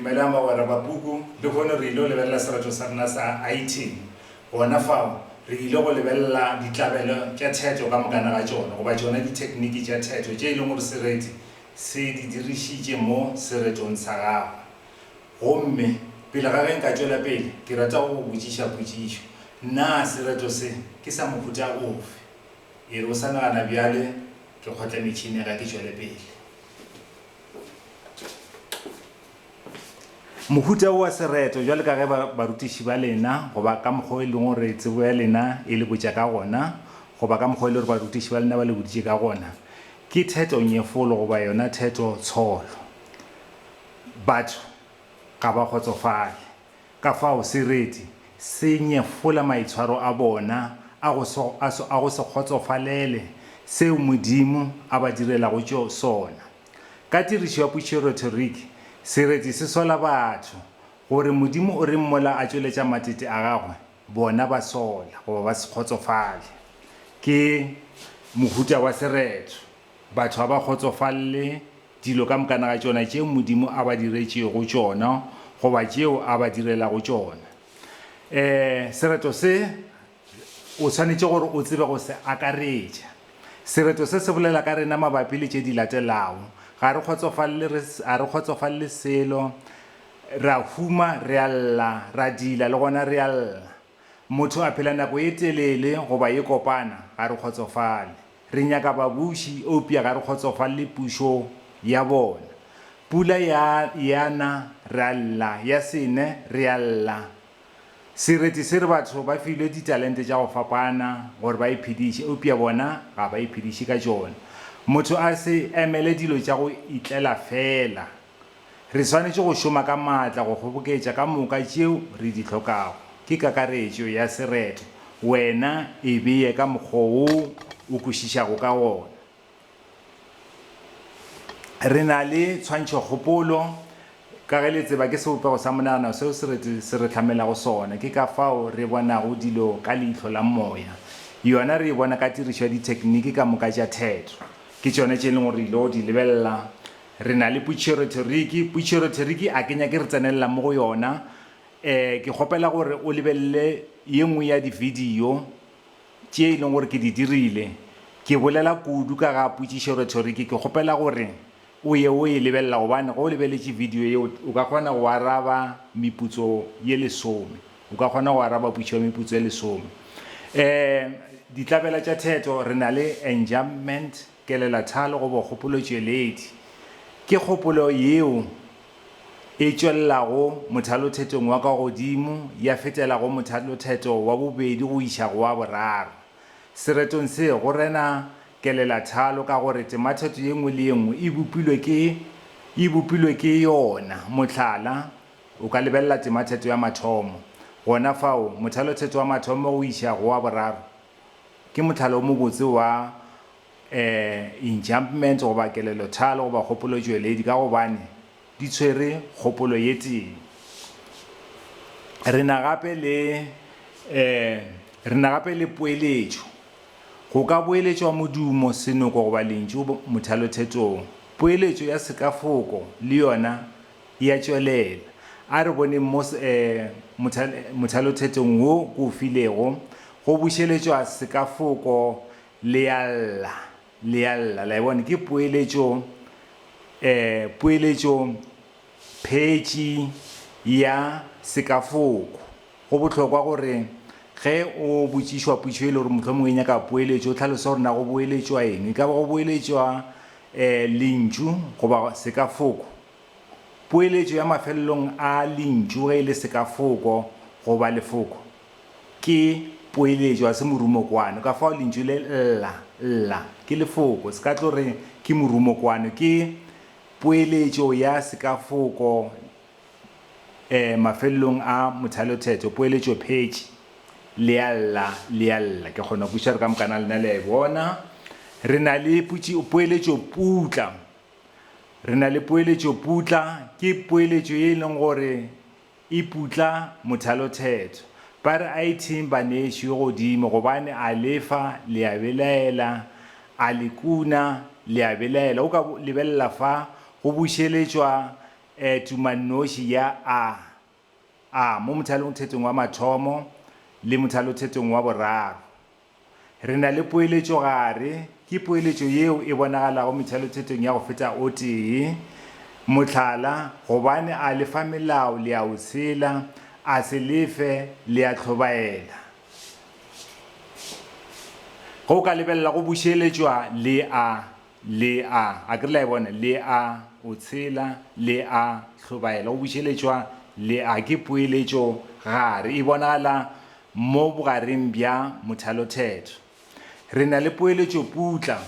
Dumelang bagwera ba puku. Lehono re il'o lebelela sereto sa rena sa Aitini. Gona fao, re ile go lebelela ditlabelo tša theto ka mokana ga tšona, goba tšona dithekniki tša theto tše e lego gore sereti se di dirišitše mo seretong sa gagwe. Gomme, pele ga ge nka tšwela pele, ke rata go go botšiša potšišo. Na sereto se ke sa mohuta ofe? E re o sa nagana bjale, ke kgotle metšhini, ga ke tšwele pele. Mohuta wo wa sereto, bjale ka ge ba, barutiši ba lena, goba ka mokgwa o e lego gore tsebo ya lena e le botša ka gona, goba ka mokgwa o e lego gore barutiši ba lena ba le boditše ka gona, ke theto-nyefolo goba yona theto-tsholo. Batho ga ba kgotsofale. Ka fao sereti se nyefola maitshwaro a bona a go se, a se, a go se kgotsofalele seo Modimo a ba direlago tšo, sona. Ka tirišo ya pušerothoriki, sereti se sola batho gore Modimo o reng mola a tšweletša matete a gagwe, bona ba sola goba ba se kgotsofale. Ke mohuta wa sereto. Batho ga ba kgotsofalle Dilo ka mokana ga tšona tše Modimo a ba diretšego tšona goba tšeo a ba direlago tšona. E, sereto se, o swanetše gore o tsebe go se akaretša. Sereto se se bolela ka rena mabapi le tše di latelago, Ga re kgotsofalele, re, ga re kgotsofalele selo, re a huma, re a lla, ra dila, le gona re a lla. Motho a phela nako ye telele goba ye kopana, ga re kgotsofale. Re nyaka babuši, eupša ga re kgotsofale le pušo ya bona. Pula ya ya na, re a lla, ya se ne, re a lla. Sereti se re batho ba filwe ditalente tša go fapana gore ba iphediše, eupša bona ga ba iphediše ka tšona. Motho a se emele dilo tša go itlela feela. Re swanetše go šoma ka maatla go kgoboketša ka moka tšeo re di hlokago. Ke kakaretšo ya sereto, wena e bee ka mokgwa wo o kwešišago ka wona. Re na le tshwantšhokgopolo ka ge le tseba ke sebopego sa monagano seo sereto se re hlamelago sona. Ke ka fao re bonago dilo ka leihlo la moya. Yona re e bona ka tirišo ya dithekniki ka moka tša theto. Ke tšona tše e lego gore re ile go di lebelela Re na le putšeroteriki. Putšeroteriki a ke nyake re tsenelela mo go yona. Um, ke kgopela gore o lebelele ye nngwe ya dividio tše e leng gore ke di dirile. Ke bolela kudu ka ga putšeroteriki. Ke kgopela gore o ye o e lebelela gobane ge o lebeletše vidio yeo, o ka kgona go araba meputso ye lesome. O ka kgona go araba putšo ya meputso ye lesome. Um, ditlabela tša theto, re na le enjambment. Kelelathalo goba kgopolotšweledi ke kgopolo yeo e tšwelelago mothalothetong wa ka godimo ya fetela go mothalothetho wa bobedi go iša go wa boraro. Seretong se go rena kelelathalo ka gore temathetho ye nngwe le ye nngwe e bopilwe ke e bopilwe ke yona. Mohlala, o ka lebelela temathetho ya mathomo. Gona fao, mothalothetho wa mathomo go iša go wa boraro Ke mohlala o mobotse wa enjambments goba kelelothalo goba kgopolotšweledi ka gobane di tshwere kgopolo ye tee. Re na gape le re na gape le poeletšo. Go ka boeletšwa modumo, senoko goba lentšu mothalothetong. Poeletšo ya sekafoko le yona E a tšwelela. A re boneng mo mothalothetong wo ke o filego, go bušeletšwa sekafoko le a lla, le a lla. La e bona? Ke poeletšo, poeletšo phetši ya sekafoko. Go bohlokwa gore ge o botšišwa potšo e le gore mohlomongwe e nyaka poeletšo, o hlalose gore na go boeletšwa eng. E ka ba go boeletšwa E, lentšu goba sekafoko. Poeletšo ya mafelelong a lentšu ge e le sekafoko goba lefoko ke poeletšo ga se morumokwano. Ka fao lentšu le lla, lla, ke lefoko. Se ka tlo re ke morumokwano. Ke poeletšo ya sekafoko e, mafelelong a mothalothetho, poeletšophetši, le a lla, le a lla. Ke kgona kwešiša gore ka mokana lena le a e bona. Re na le putši, poeletšoputla. Re na le poeletšoputla, ke poeletšo ye e leng gore e putla mothalothetho. Ba re a ithing banešu e godimo, gobane a lefa, le a belaela, a le kuna, le a belaela. O ka lebelela fa go bušeletšwa E tumannoši ya A, A mo mothalongthetong wa mathomo le mothalothetong wa boraro. Re na le poeletšogare, ke poeletšo yeo e bonagalago methalothetong ya go feta o tee. Mohlala, gobane a le fa melao le a o tshela, a se le fe, le a tlhobaela. Ge o ka lebelela go bušeletšwa le A, Le a, a ke re le a e bona? Le a, o tshela. Le a, hlobaela. Go bušeletšwa, le a, ke poeletšo gare. E bonagala mo bogareng bja mothalothetho. Re na le poeletšoputla.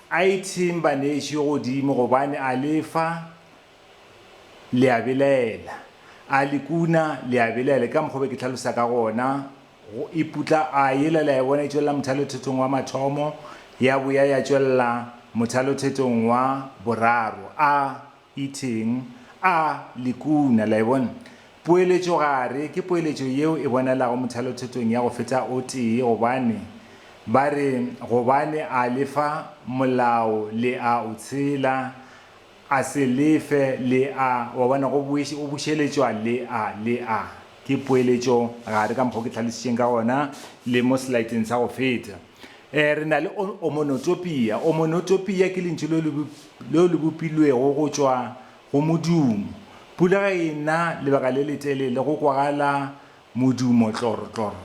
A itheng baneši godimo, gobane a le fa, le a belaela. A le kuna, le a belaela. Ke ka mokgwa o be ke hlalosa ka gona, go e putla, a yela le a e bona e tšwelela mothalothetong wa mathomo, ya boya ya tšwelela mothalothetong wa boraro. A itheng? A le kuna. La e bona? Poeletšogare ke poeletšo yeo e bonalago mothalothetong ya go feta o tee, gobane ba re, Gobane a le fa molao le a o tshela, A se le fe le a, wa bona, go boiše, go bušeletšwa le a, le a. Ke poeletšo gare ka mokgwa o ke hlalošitšeng ka gona, le mo selaeteng sa go feta. E, re na le o, omonotopia. Omonotopia ke lentšu leo le, leo le bopilwego go tšwa go modumo. Pula ge e na lebaka le letelele, go kwagala modumo tlorotloro.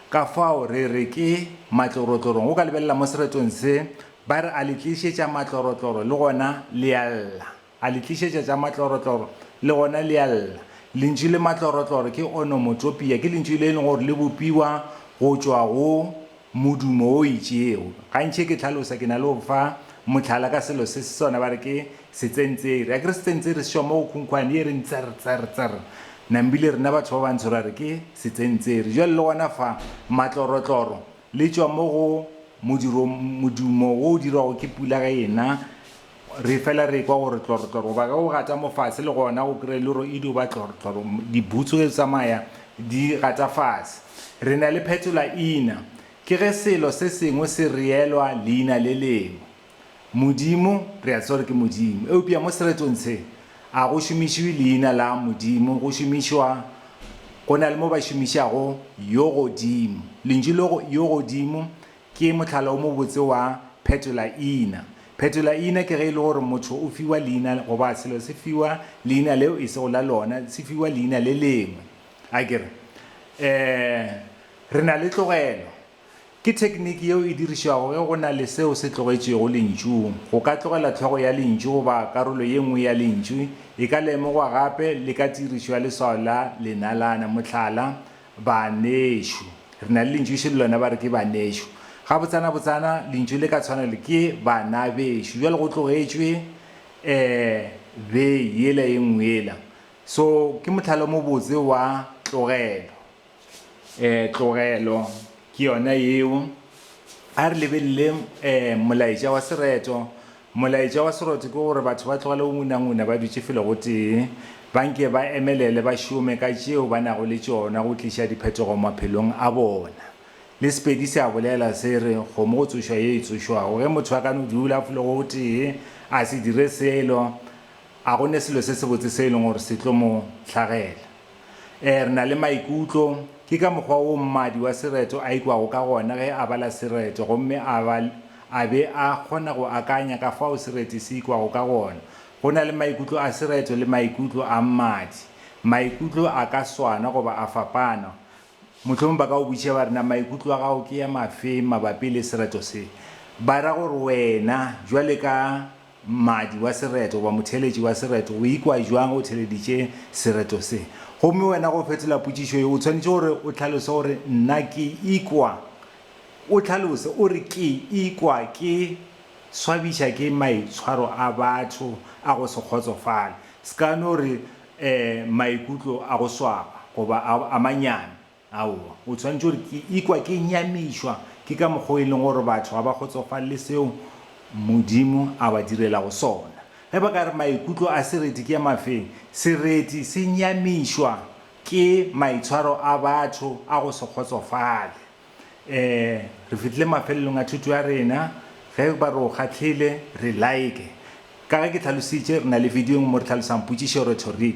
Ka fao re re ke matlorotlorong. O ka lebelela mo seretong se, ba re, A le tlišetša matlorotloro, le gona le a lla. A le tlišetša tša matlorotloro, le gona le a lla. Lentšu le matlorotloro ke onomotopia, ke lentšu le e lego gore le bopiwa go tšwa go. Modumo wo o itšego. Gantši ge ke hlalosa ke na le go fa mohlala ka selo se se sona ba re ke setsentseri. A ke re setsentseri se šoma go khunkhwane ye e reng tser, tser, tser. Nambile rena batho ba bantsho ra re ke setsentseri. Bjale le gona fa, matlorotloro, le tšwa mo go modiro, modumo wo o dirwago ke pula ge e na. Re fela re ekwa gore tlorotloro goba ge o gata mo fase le gona o kry-e le gore e dio ba tlorotloro, dibutsu ge di tsamaya di gata fase. Re na le phetolaina, ke ge selo se sengwe se reelwa leina le lengwe. Modimo, re a tseba gore ke Modimo, eupša mo seretong se a go šomišwe leina la Modimo, go šomišwa, go na le mo ba šomišago Yogodimo. Lentšu leo Yogodimo Ke mohlala o mobotse wa phetola-iina. Phetola-iina ke ge e le gore motho o fiwa leina goba selo se fiwa leina leo e sego la lona, se fiwa leina le lengwe. A ke re, Ee, re na le tlogelo. Ke thekniki yeo e dirišwago ge go na le seo se tlogetšwego lentšung. Go ka tlogela hlogo ya lentšu goba karolo ye nngwe ya lentšu e ka lemogwa gape le ka tirišo ya leswao la lenalana, mohlala, Banešu. Re na le lentšu še le lona ba re ke banešu. Gabotsanabotsana lentšu le ka tshwana le ke banabešo. Jwale go tlogetšwe e be yela e nngwe yela. So ke mohlala o mobotse wa tlogelo. E, tlogelo ke yona yeo. A re lebelele e, molaetša wa sereto. Molaetša wa seroto ke gore batho ba tlogele go ngunanguna ba dutše felo gotee, ba nke ba emelele ba šome ka tšeo ba nago le tšona go tliša diphetogo maphelong a bona. Le Sepedi se a bolela, se re, Kgomo go tsošwa ye e tsošwago. Ge motho a ka no dula felo gotee a se dire selo, a go ne selo se sebotse se e lego gore se tlo mo hlagela. Ee, re na le maikutlo. Ke ka mokgwa wo mmadi wa sereto a ikwago ka gona ge a bala sereto gomme a ba a be a kgona go akanya ka fao sereti se ikwago ka gona. Go na le maikutlo a sereto le maikutlo a mmadi. Maikutlo a ka swana goba a fapana. Mohlomong ba ka go botšiša ba re, Na maikutlo a gago ke a mafe mabapi le sereto se? Ba ra gore wena, bjale ka Mmadi wa sereto goba motheeletši wa sereto o ikwa bjang o theeleditše sereto se? Gomme wena go fetola potšišo ye o swanetše gore o hlalose gore, Nna ke ikwa. O hlalose, o re, Ke ikwa ke swabiša ke maitshwaro a batho a go se kgotsofale. Se ka no re, Ee, maikutlo a go swaba, goba a, a manyami. Aowa. O swanetše gore, Ke ikwa ke nyamišwa ke ka mokgwa o e lego gore batho ga ba kgotsofalele seo Modimo a ba direlago sona. Ge ba ka re maikutlo a sereti ke a mafeng, sereti se nyamišwa ke maitshwaro a batho a go se kgotsofale. Ee, re fihlile mafelelong a thuto ya rena. Ge ba re o kgahlile, re like. Ka ge ke hlalositše, re na le vidio e nngwe mo re hlalosang potšišo, rhetoric.